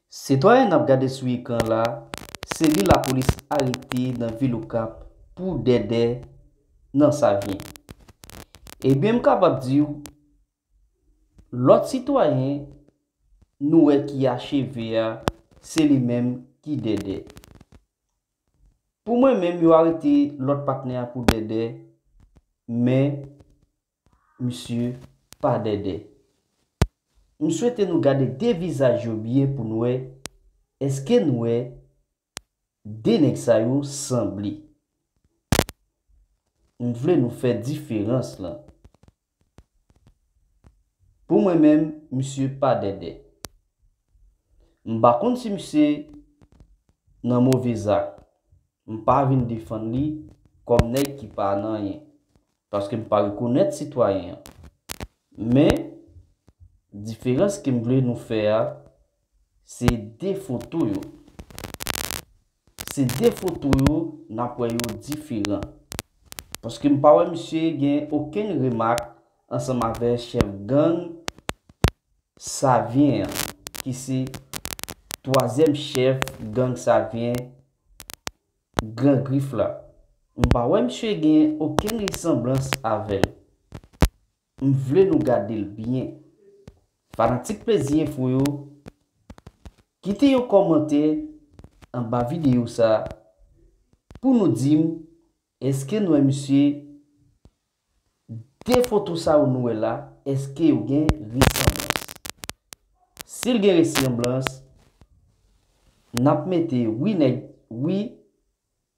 Sitwayen nap gade sou ekran la se li lapolis arete nan vil okap pou dèdè nan savyen. Ebyen m kapab diw lòt sitwayen nou wè ki acheve a se li menm ki dèdè. Pou mwen menm yo arete lòt patnè a pou dèdè men Misye pa dèdè. M swete nou gade 2 vizaj yo byen pou n wè eske n wè 2 nèg sa yo sanble. M vle nou fè diferans lan. Pou mwen menm misye pa dèdè. M pa konn si misye nan move zak. M pa vin defann li kòm nèg ki pa nan anyen. Paske m pa rekonèt sitwayen an. Men, diferans ke m vle nou fè a, se de foto yo. Se de foto yo n ap wè yo diferan. Paske m pa wè misye gen okenn remak ansanm avè chèf gang Savyen an, ki se twazyèm chèf gang Savyen. Gran grif la. M pa wè misye gen okenn resanblans avè l. M vle nou gade l byen. Fanatik Plezi Enfo yo, kite yon kòmantè anba videyo sa pou nou di m èske n wè misye 2 foto sa yo nou wè la eske yo gen resanblans? Sil gen resanblans nap mete wi nèg wi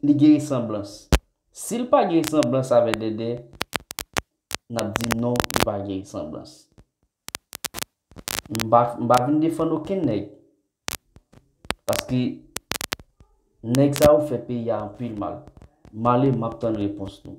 li gen resanblans sil pa gen resanblans avè dèdè nap di non li pa gen resanblans. M pa m pa vin defann okenn nèg. Paske nèg sa yo fè peyi a anpil mal. Male map tann repons nou.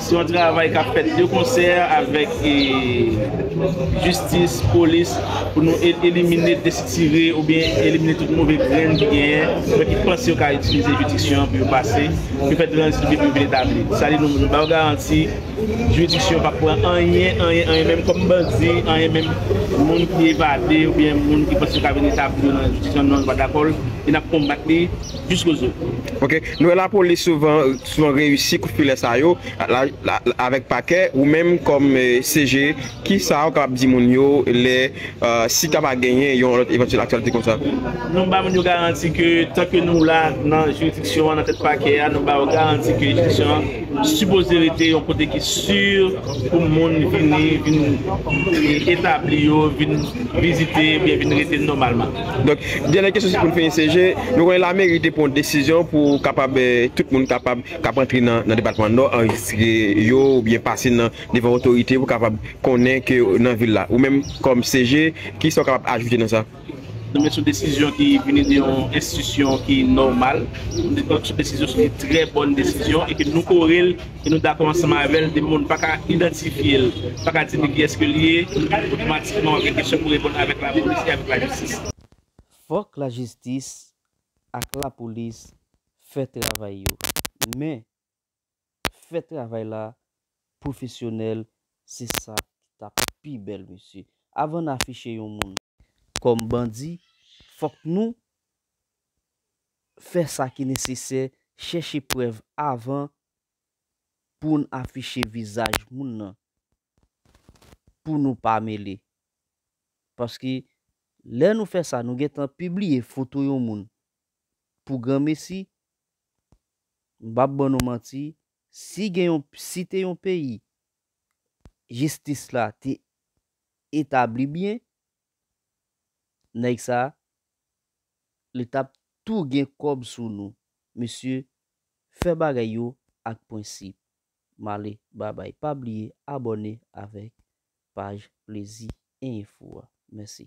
Se yon travay kap fèt de konsè avèk jistis, polis pou nou elimine, destire oubyen elimine tout move grenn ki genyen oubyen ki panse yo ka itilize jiridiksyon an pou yo pase, pou yo fè tranzit oubyen pou yo vin etabli. Sa di nou ba yo garanti jiridiksyon an pap pran anyen, anyen, anyen menm kòm bandi, anyen menm moun ki evade oubyen moun ki panse yo ka vin etabli yo nan jiridiksyon an non yo pa dakò l e nap konbat li. jis koze. Ok, nou wè lapolis souvan souvan reyisi kout filè sa yo avèk pakè, ou menm kòm CG ki sa ou kapab di moun yo lè si ta va genyen yon lòt evantyèl aktyalite kon sa? Nou ba moun yo garanti ke tan ke nou la nan jiridiksyon an nan tèt pakè a nou ba yo garanti ke jiridiksyon an sipoze rete yon kote ki si pou moun vini vin etabli yo vin vizite oubyen vin rete nòmalman. Donk, dènye kesyon se pou n fini se je, nou konnen lameri te pran yon desizyon pou kapab tout moun kapab k ap antre nan depatman Nò anrejistre yo oubyen pase nan devan otorite pou kapab konnen ke yo nan vil la. Ou menm kòm se je, ki sa ou kapab ajoute nan sa? Non men se yon desizyon ki vini de yon enstitisyon ki nòmal, donk se yon desizyon, se yon trè bòn desizyon e ke nou kore l. E nou dakò ansanm avè l, depi moun pa ka idantifye l, pa ka di ni kiyès ke li ye, otomatikman w ap gen kesyon pou reponn avèk lapolis e avèk lajistis. Fòk lajistis ak lapolis fè travay yo, men fè travay la pwofesyonèl se sa ki ta pi bèl mesye. Avan n afiche yon moun kòm bandi, fòk nou fè sa ki nesesè, chèche prèv avan pou n afiche vizaj moun nan pou nou pa mele. Paske lè nou fè sa nou gentan pibliye foto yon moun pou granmesi, m p ap ban nou manti, si gen yon, si te yon peyi jistis la te etabli byen, Nèg sa li tap tou gen kòb sou nou mesye fè bagay yo ak pwensip male babay pa bliye abòne avèk paj plezi info a mèsi.